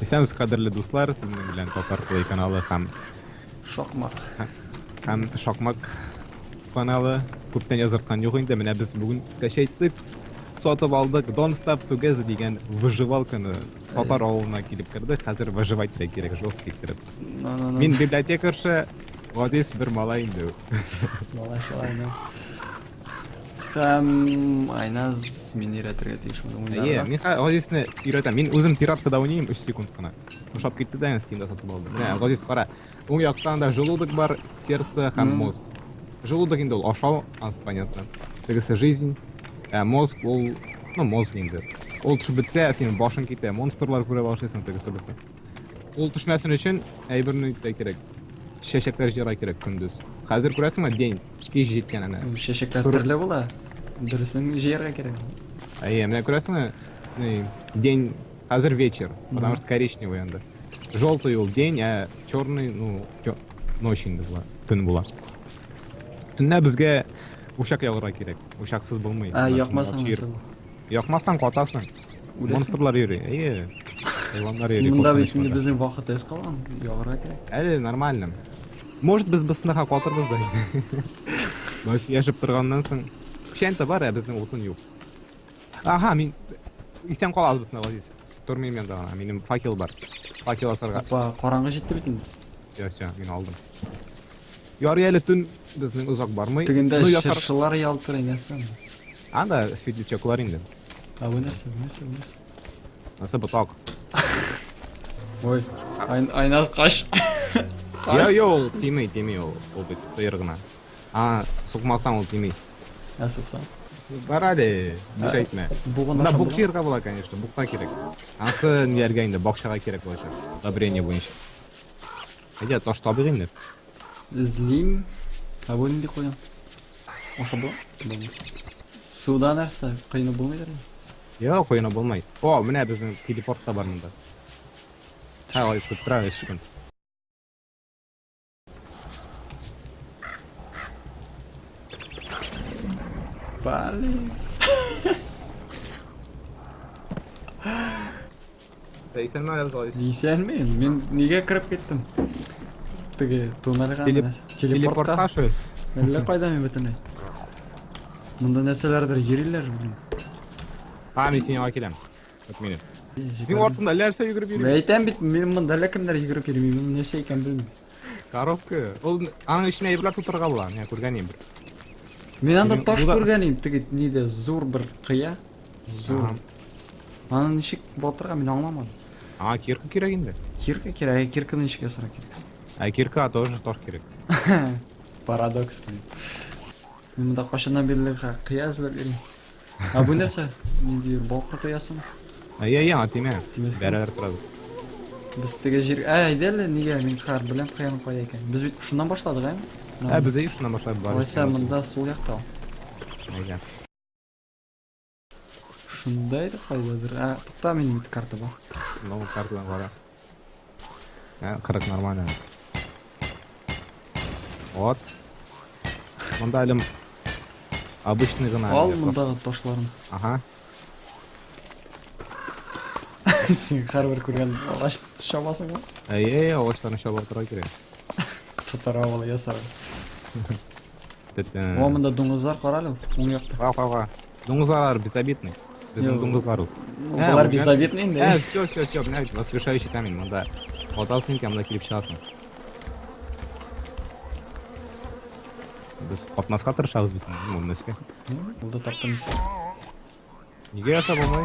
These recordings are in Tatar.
Исәнбез, кадерле дуслар, сезнең белән Татар Play каналы һәм Шакмак. Һәм Шакмак каналы күптән язырткан юк инде. Менә без бүген скачать итеп сатып алдык. Don't Stop Together дигән выживалканы татар авылына килеп керде. Хәзер выживать та кирәк, жесткий кереп. Мин библиотекарша, Вадис бер малай инде. Малай шулай, Һәм Айназ мин өйрәтергә тиеш моны Әйе, уйнарга. мин хә- Газизне өйрәтәм. Мин үзем пираткада уйныйм 3 секунд кына. Ошап китте дә, Steam'да сатып алдым. Менә, Газиз, кара. Уң яктан да желудок бар, сердце һәм Мгм. мозг. Желудок инде ул ашау, аз понятно. Тегесе жизнь, ә мозг ул, ну, мозг инде. Ул төшеп бетсә, синең башың китә, монстрлар күрә башлыйсың, тегесе булса. Ул төшмәсен өчен әйберне итә кирәк. Чәчәкләр җыра кирәк көндез. Хәзер күрәсеңме, день, кич җиткән әнә. Чәчәкләр Соры- төрле була. Дөресен җыярга кирәк. Әйе, менә күрәсеңме, ни, день, хәзер вечер, потому Мгм. что коричневый анда. Желтый ул день, ә черный, ну, чё- ночь инде була, төн була. Төнлә безгә учак ягырга кирәк. Учаксыз булмый. Ә Анда якмасаң чир- нәрсә була? Якмасаң катасың. Үләсең. Монстрлар йөри, әйе. Хайваннар йөри, Монда бит инде безнең вакыт эс калган, ягарга кирәк. Әле нормально. Может, без бысныха катырбыз да инде. Баш яшып торганнан соң. Печәнтә бар, ә безнең утын юк. Ага, мин... Исән калабыз бысныха, Азиз. Тормыйм мен да, минем факел бар. Факел асарга. Апа, караңгы җитте бит инде. Все, все, мин алдым. Ярый әле төн безнең озак бармый. Тегендә чыршылар ялтырый, нәрсә? Анда светлячоклар инде. А вы нәрсә, вы нәрсә, вы нәрсә? Нәрсә ботак? Ой, айн- айна каш. Я, я, ул тими, тими, ул, ул бит сыйыр гына. А, сукмасаң ул тими. Ә суксаң. Бар әле, бик әйтмә. Бугын Мына ашап бук була? җыярга була, конечно, букка кирәк. Ансы ниләргә инде, бакчага кирәк булачак. Удобрение буенча. Әйдә, таш табыйк инде. Эзлим. Ә бу нинди куен? Ашап була? Булмый. Суда нәрсә? Кыйны булмыйдыр инде. Йо, куена булмай. О, менә безнең телепорт та бар монда. Ха, ой, тут травы шикем. Пали. Ә исәнме әле Злавис? Исәнмен, мин нигә кереп киттем? Теге туннельга Телеп- менә. Телепортка. Телепортка шул. Әллә кайда мин бөтенләй. Монда нәрсәләрдер йөриләр, блин. А, мин синең янга киләм. От минем. Синең артыңда әллә нәрсә йөгереп Мин йөри. әйтәм бит, мин монда әллә кемнәр йөгереп йөри, мин нәрсә икәнен белмим. Коробка. Ул аның эченә әйберләр тутырырга була. Менә күргән идем бер. Мин анда Минем таш буда- күргән идем, теге нидә зур бер кыя. Зур. Ага. Аны ничек ватырга мин аңламадым. Ага, кирка кирәк инде. Кирка кирәк, ә кирканы ничек ясарга кирәк? Ә кирка тоже таш кирәк. Парадокс, блин. Мин монда кайчаннан бирле ха- кыя эзләп йөрим. Ә бу нәрсә? Нинди бал корты ясың? Әй, әй, яңа тимә. Тимәскә. Бәрәләр торабыз. Без теге җир... Ә, әйдә әле, нигә мин кар белән каян кая икән? Без бит шуннан башладык, ә? Ә, без әйе шуннан башлап бар. Алайса, монда сул якта ул. Әйдә. Шунда иде кайдадыр. Ә, тукта, мин бит карта бар. Новый картадан кара. Ә, кырык нормально. Вот. Монда әлем обычный гына. Ал мондагы ташларын. Ага. Син һәрбер күргән агач шабасың ба? Әйе, агачларны шаба тора кирәк. Татара бала ясар. О, монда дуңгызлар карале, уң якта. Ва, ва, ва. Дуңгызлар безобидный. Безнең дуңгызлар ул. Алар безобидный инде. Ә, все, все, все, менә бит воскрешающий камень монда. Ватасың икән, монда килеп чыгасың. Без капмаска тырышабыз бит, үлмәскә. Булды таптым исә. Нигә ясап алмай?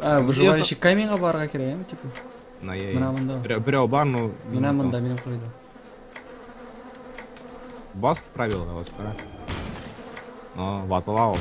А, выживающий каминга барга кирәк, яме, типа. На я. Менә монда. Берәү бар, но. Менә монда, минем курыйда. Бас правила вот, а. Но ватылау.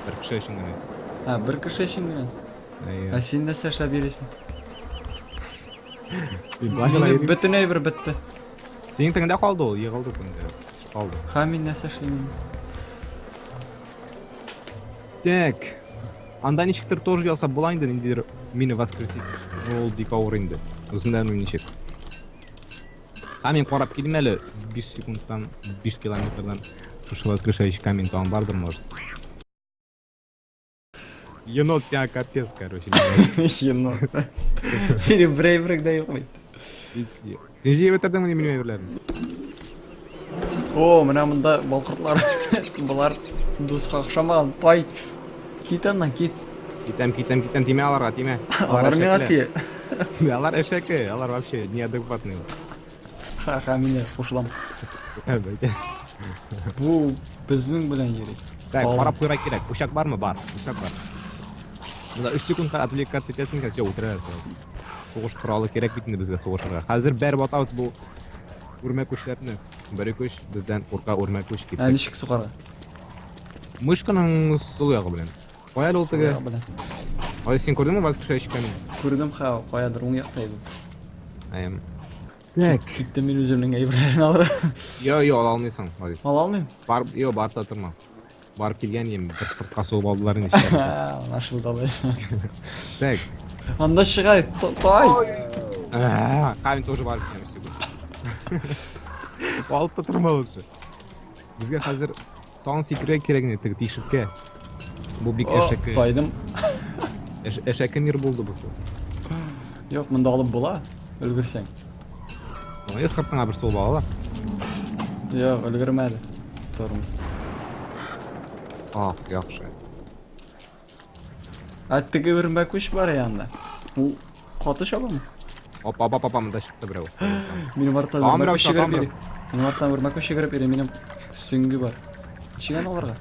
Бер кеше өчен генә. А, бер кеше өчен генә. А син нәрсә эшләп йөрисең? Минем бөтен әйбер бетте. Синең теңдә калды ул, егылды теңдә. Калды. Ха, мин нәрсә эшлим? Так. Анда ничектер тоже ясап була инде ниндидер мина воскреситель. Ну ул бик авыр инде. Үзем дә белмим ничек. Камень карап килим әле 5 секундтан, 5 километрдан. Шушы воскрешающий камень тагын бардыр, может. Енот тебя капец, короче. Енот. Сири брейврик да юк бит. Син җыеп бетердеңме ни минем әйберләрне? О, менә монда балкыртлар. Болар дуска охшамаган. Пай. Кит аннан, кит. Китәм, китәм, китәм, тимә аларга, тимә. Алар миңа тие. Алар әшәке, алар вообще неадекватный. Ха-ха, мин дә кушылам. Бу безнең белән йөри. Так, карап куйра кирәк. Учак бармы? Бар. Учак бар. Мына 3 секундка отвлекаться итәсең икән, все, үтерәләр. Сугыш коралы кирәк бит инде безгә сугышырга. Хәзер бәреп атабыз бу үрмә күчләрне. Бер көч бездән курка үрмә күч дип. Ә ничек сугарга? Мышканың сул ягы белән. Кая ул теге? Ай син күрдеңме воскрешай ишкәнне? Күрдем ха, каядыр уң якта иде. Әм. Так. Киттем мин үземнең әйберләрне алырга. Йо, йо, ала алмыйсың, Марис. Ала алмыйм? Бар, йо, барта торма. Барып килгән идем, бер сыртка сугып алдылар инде эчкәргә. Анашылды алай. Так. Анда шыгай, то- тай! А, Камень тоже барып килгән өстәгә. Алып та торма лучше. Безгә хәзер тан сикерә кирәк инде теге тишеккә. Бу бик О, әшәке. Тайдым. Әш- Әшәке мир булды бу. Юк, монда алып була. Өлгерсәң. Ой, сыртыңа бер сулы ала. Юк, өлгермәде. Тормоз. Ах, яхшы. А теге бер мәкүш бар янда. Ул каты чабамы? Опа, опа, опа, монда чыкты берәү. Минем арттан Там берәү, мәкүш там йөгереп берәү. йөри. Минем арттан бер мәкүш йөгереп йөри, минем сөңге бар. Чигән аларга.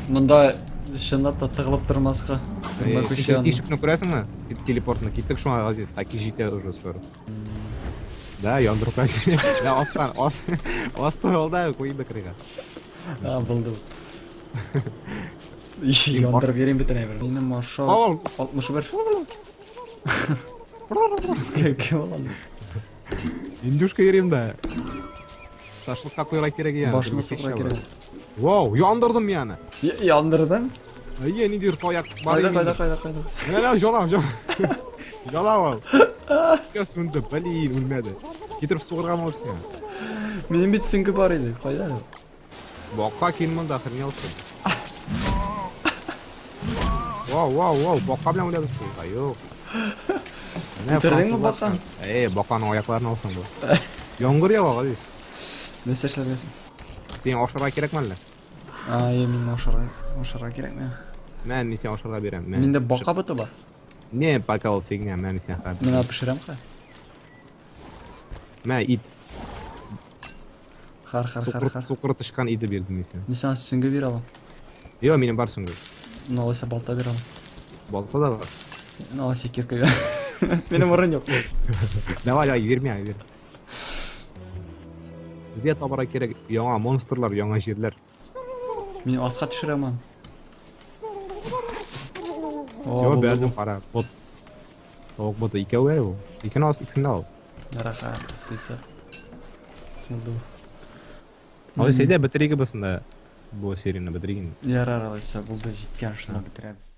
Монда чынлап та тыгылып тормаска. Көнбә күче Секретный аны. шипны күрәсеңме? Тел- Телепортны киттек шуңа Газиз, таки җитә уже скоро. Да, яндырып качты. Да, астан, ас, асты алда куйды кырыйга. А, булды. Иши Син бар- яндырып йөрим бит әнә бер. Минем маршал Ау. 61. Кем кем ул аны? Индюшка йөрим дә. Шашлыкка куярга кирәк икән. Башына сукырга кирәк. Вау, яндырдым мин аны. Яндырдың? Әйе, ниндидер таяк бар. Кайда, кайда, кайда, кайда? Менә җалам, җалам. Җалам ул. Все сүнде, блин, үлмәде. Китереп сугырган булып сиңа. Минем бит сүңге бар иде, кайда? Бакка кин монда хренелсың. Вау, вау, вау, бакка белән уйлап беттең. А, юк. Менә Бетердеңме французлар- баканы? Эй, баканың аякларын алсаң бу. Яңгыр ява, Газиз. Нәрсә эшләгәнсең? Син ашарга кирәкме әллә? А, я мин ашарга, ашарга кирәк миңа. Мә, мин сиңа ашарга бирәм. Мә, Миндә пешер. бака быты бар. Не, пока ул фигня, мә, мин сиңа хәзер. Мина пешерәм ка. Мә, ит. Хар хар хар хар. Сукыр тычкан иде бирдем мин сиңа. Мин сиңа сүңге бирә алам. Йо, минем бар сүңге. Ну, алайса балта бирә алам. Балта да бар. Ну, алайса кирка бирә. Минем урын юк. Давай, давай, бирмә, бир. Безгә табара кирәк яңа монстрлар, яңа җирләр. Мин аска төшерәм аны. Йо, бәрдем кара. Бот. Тавык боты икәү әле ул. Икене алсаң, икесен дә ал. Яраха, сыйсы. Булды. Алай сәйдә бетериге бусында. Бу серияне бетериген. Ярар, алайса булды, җиткән шуны бетерәбез.